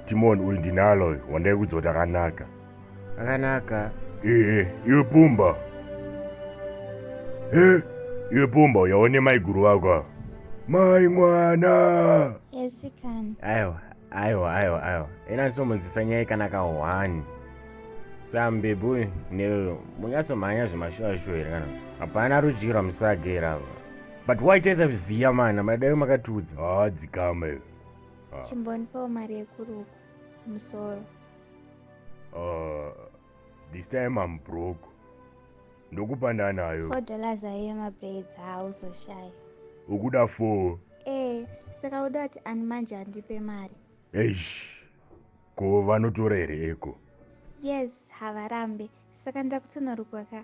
timon uyu ndinalo uyu wandaikudza kuti akanaka akanaka ee iwe pumba e iwe pumba uyaone maiguru vako ava mai mwana esikana aiwa aiwa aiwa aiwa ena ndisomunzisa nyaya ikanaka one sam bebi uyu neuyo munyatsomhanya zvemashuwashuwa here kana hapana rudyirwa musagera ava but waitesa viziya mana madai makatiudza haa dzikama iwe Ah. Chimbondipawo mari yekurukwa musoro. Uh, this time I'm broke. Ndokupa ndanayo. 4 dollars ayo mabraids hauzoshaya. Ukuda 4. Eh, saka uda kuti ani manje andipe mari. Eish. Ko vanotora here eko? Yes, havarambe. Saka ndakutonorukwa ka.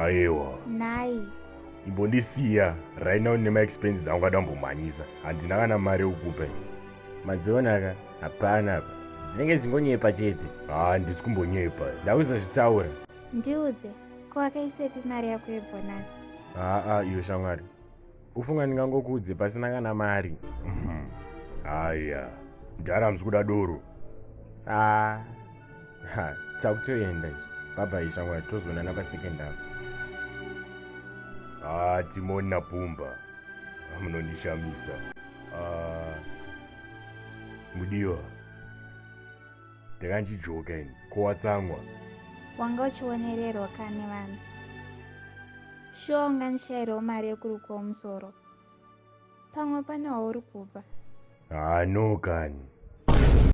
Ayewa. Nhai. Imbondisiya right now nema expenses angu ada kumbomhanyisa. Handina kana mari yokukupa. Madziona ka? Hapana apa. Dzinenge dzingonyepa chete. Ah, ndisi kumbonyepa. Ndakuzozvitaura. Ndiudze, ko wakaisepi mari yako yebonus? Haa, iyo shamwari. ufunga ndingangokuudze pasina kana mari mhm. haya mdhara hamusi kuda doro ah, takutoenda baba ishamwari tozoonana pasecond apo ah, timoni napumba munondishamisa ah, mudiwa Ndakandijoka ini, ko watsamwa? Wanga uchionererwa ka nevanhu? Shuwa ungandishairewo mari yekurukwawo musoro? Pamwe pane wauri kupa. Haa no kani.